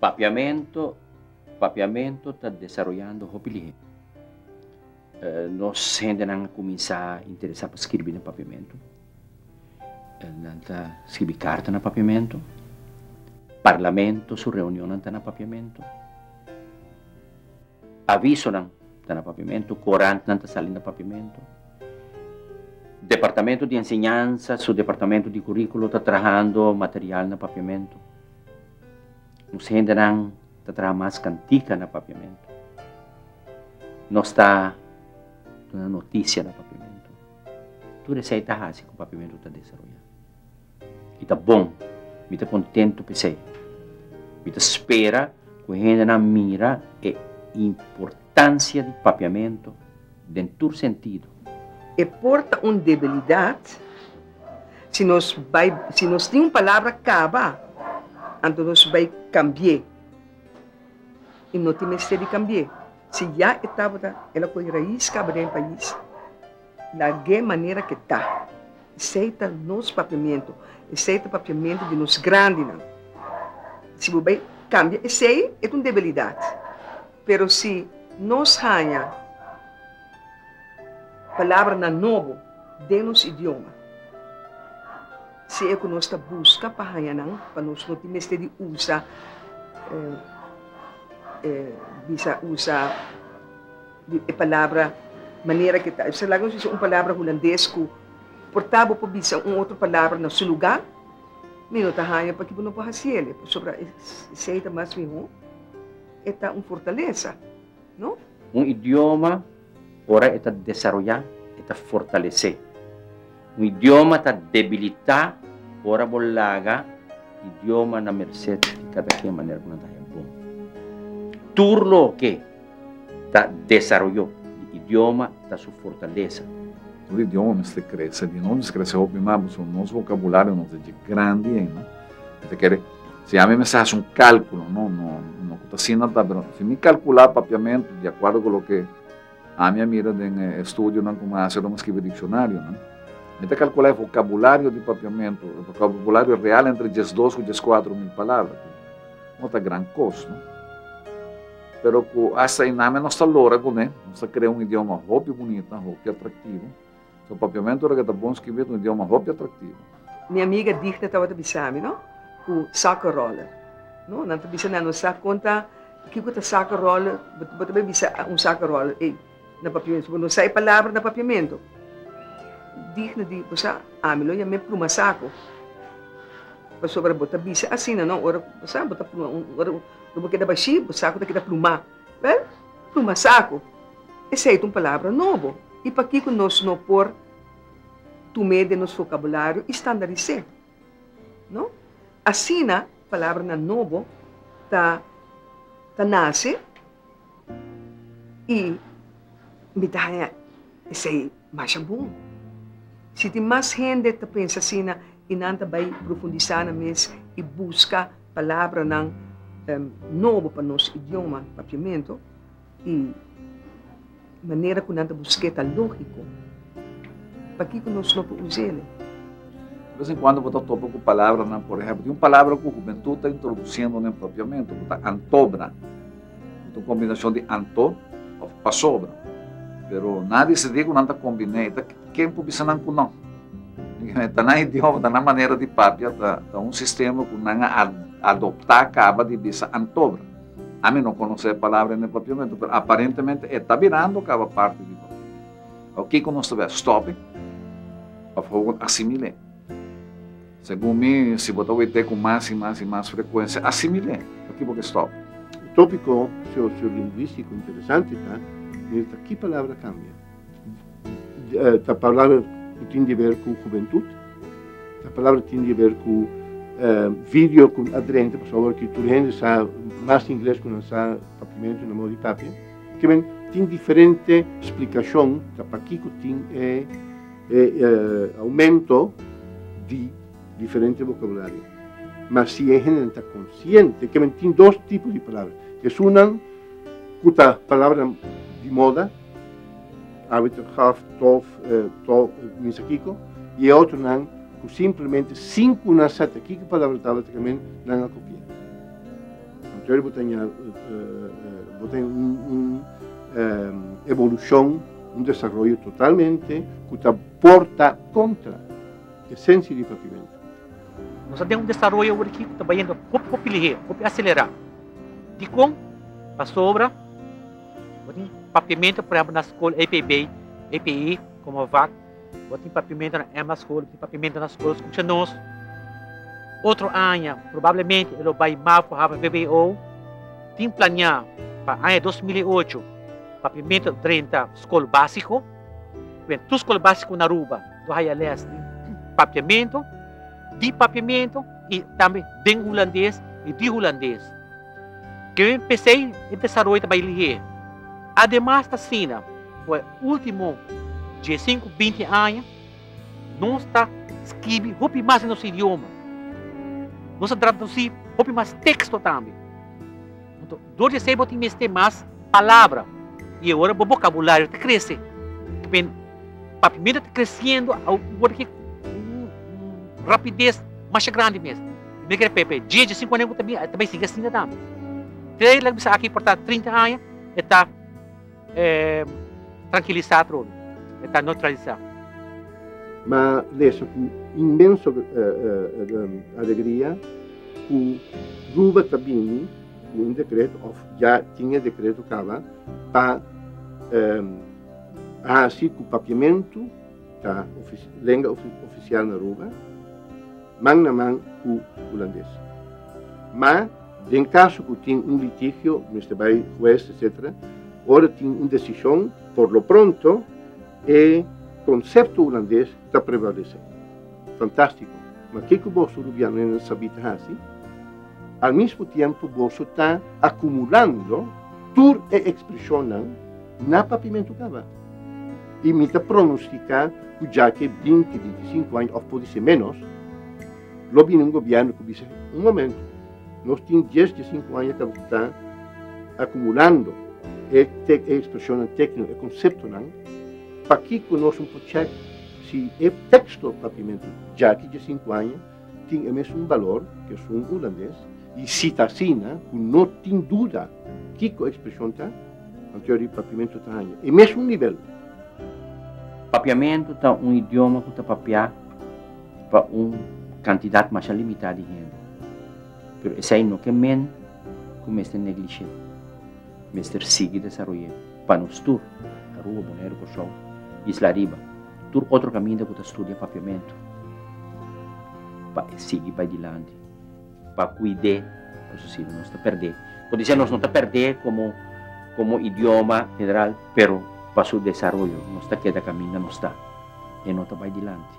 Papiamentu, Papiamentu ta desaroyando hopi lihé. Nos hendenan a kuminsá interesá pa skirbi na papiamentu. Nan ta skirbi karta na papiamentu. Parlamento su reunionnan ta na papiamentu. Avisonan ta na papiamentu, korantnan ta sali na papiamentu. Departamentu di Enseñansa su departamentu di kuríkulo ta trahando material na papiamentu. Nos hendenan ta traha mas kantika na papiamentu. Nos ta duna notisia na papiamentu. Tur esei ta hasi ku papiamentu ta desaroyá. I ta bon! Mi ta kontentu p'esei. Mi ta spera ku hendenan mira e importansia di papiamentu den tur sentidu. E por ta un debilidat si nos bai si nos tin un palabra kaba, anto nos bai kambi'é i no tin mester di kambi'é. Si ya e tabata el a ko'i rais kaba den e pais. Na ge manera ke ta. Esei ta nos papiamentu. Esei ta papiamentu di nos grandinan. Si bo bai kambia esei, e ta un debilidat. Pero si nos haña palabranan nobo den nos idioma, si e ku nos ta buska pa haña nan, pa nos no tin mester di usa, bisa usa. Di e palabra manera ke ta. Esaki nos bisa un palabra hulandes ku por ta bo por bisa un otro palabra na su lugá. Mi no ta haña pakiba no por hasi el, pasobra esei ta mas mihó. E ta un fortalesa, no? Un idioma, ora e ta desaroyá, e ta fortalesé. Un idioma ta debilitá ora bo laga idioma na mersé di kada ken manera ku nan ta haya bon. Tur loke ta desaroyó di idioma ta su fortalesa. Tur idioma mester krese di nos, mester krese hopi mas, pasobra nos vokabulario nos ta dje grandi henda. Mi ta kere, si ami mester hasi un kálkulo, no, no, no ku ta asina ta, pero si mi kalkulá papiamentu di akuerdo ku loke. Ami a mira den e studionan ku mi a hasi ora mi skibi dikshonarionan, mi ta kalkulá e vokabulario di Papiamentu, e vokabulario real entre diesdos ku dieskuater mil palabra, ku no ta gran kos, no? Pero ku asta einan mi a nos ta logra kuné, nos ta krea un idioma hopi bunita, hopi atraktivo. So papiamento ora ke ta bon skibi et un idioma hopi atraktivo. Mi amiga Dichna tabata bisami no ku soccer roller no nan ta bisa na nos sa kon ta kiko ta soccer roller bo ta be bisa un soccer roller ey na papiamento bo no sa e palabra na papiamento Dichna di bo sa ami lo yam'e pluma saku pasobra bo ta bisa asina no ora bo sa bo ta pluma ora bo keda bashi bo saku ta keda pluma. Wel, tuma saku, esei ta un palabra nobo i pakiko nos no por tum'é den nos fokabulario i standaris'é? No. Asina palabranan nobo ta ta nase i mi ta haña esei. masha bon. Si tin mas hende ta pensa asina i nan ta bai profundisá na mes i buska palabranan nobo pa nos idioma, papiamentu, i manera ku nan ta busk'é ta lógiko, pakiko nos no por us'é? Di bes en kuando bo ta topa ku palabranan, por ehèmpel, tin un palabra ku hubentut ta introdusiendo na e papiamentu ku ta antobra. Ta un kombinashon di anto òf pasobra. Pero nan a disidí ku nan ta kombiné, ta ken por bisa nan ku nò. Ta nan idioma, ta nan manera di papia, ta un sistema ku nan a adoptá kaba di bisa antobra. Ami no konosé e palabra en e papiamentu, pero aparentemente e ta birando kaba parti di papiamentu. Awo kiko nos ta bai a stòp'e òf a asimil'e? Segun mi, si bo ta wete ku mas i mas i mas frekuensia, asimil'é. Aki bo ke stòp. E tópiko sosiolingwístiko interesante ta mirsha ki palabra kambia. Ta palabra ku tin di ber ku hubentut, ta palabra ku tin di ber ku vidio ku a drenta, pasobra ki tur hende sa mas ingles ku nan sa papimentu na mou di papia. Tin diferente splikashon ta pakiko tin e. E aumento di diferente vocabulario. Ma si e hende nan ta consciente ke men tin dos tipo di palabra. Esunnan ku ta palabra di moda, arbiter gaf, tof, to, mi sa kiko, y e otronan ku simplemente sin ku nan sa ta kiko palabra tabata ke men, nan a kopi'é. Anto bo ta ña bo ten un evolushon, un desaroyo totalmente ku ta por ta kontra esensia di Papimentu. Nos a den un desaroyo awor aki ku ta bayendo hopi hopi lihé, hopi aselerá. Dikon? Pasobra bo tin Papimentu, por ehempel na skol APB, APE, Komovac. Bo tin papimento na Emma School, bo tin papimento na school, scucha nos. Otro aña, probablemente e lo bai mal for hava VWO. Tin plania pa aña 2008, papimento drenta school basico. Wen tu school basico na Aruba, do haya les di papiamento, di papiamento y tambe den Hulandes y di Hulandes. Kevin p'esei e desaroy ta bai lihé. Ademas ta asina, ku e último diesinku, binti aña nos ta skibi hopi mas den nos idioma. Nos a tradusí hopi mas teksto tambe. Anto, dor di esei bo tin mester mas palabra i awor bo bokabulario ta krese. K'b'en papiamento ta kresiendo awor rapidez masha grandi mes. Mi kere Pepe, dje, dje sinku aña ku ta bin, ta bai sigui asin ta tambe. Te laga mi sa aki por ta trinta aña, e ta trankilisá atrobe, e ta neutralisá. Ma lesa ku inmenso alegria ku Ruba ta bini ku un dekreto, òf ya tin e dekreto kaba, pa hasi ku papiamentu, ta lenga ofisial na Aruba, man na man ku hulandes. Ma den kaso ku tin un litigio, mester bai hues etsetera, ora tin un desishon, por lo pronto e konsepto hulandes ta prevalesé. Fantástiko! Ma ke ku boso rubianonan sabí ta hasi? Al mismo tiempo boso ta akumulando tur e ekspreshonnan Na papimentu kaba. I mi ta pronostiká ku dja ke binti, bintisinku aña òf por di ser ménos, lo bini un gobièrnu ku bisa, Un momentu, nos tin dies di sinku aña ta ta akumulando e te e ekspreshonnan tékniko, e konseptonan, pakiko nos no por chèk si e teksto papimentu dja ke dje sinku aña, tin e mesun balor ku esun ulandes i si ta asina ku no tin duda kiko ekspreshon ta, anto di papiamentu ta haña e mesun nivel. Papiamentu ta un idioma ku ta papiá pa un kantidat masha limitá di hende, pero esei no ke men ku mester neglish'é. Mester sigui desaroy'é pa nos tur, Aruba, Boneiru, Kòrsou i isla ariba. Tur otro caminda cu ta studia papiamentu pa e sigui bay dilanti pa cuide nos asina nos ta perde. Por dise nos no ta perde como como idioma general pero pa su desaroyo nos ta keda caminda nos ta e no ta bay dilanti.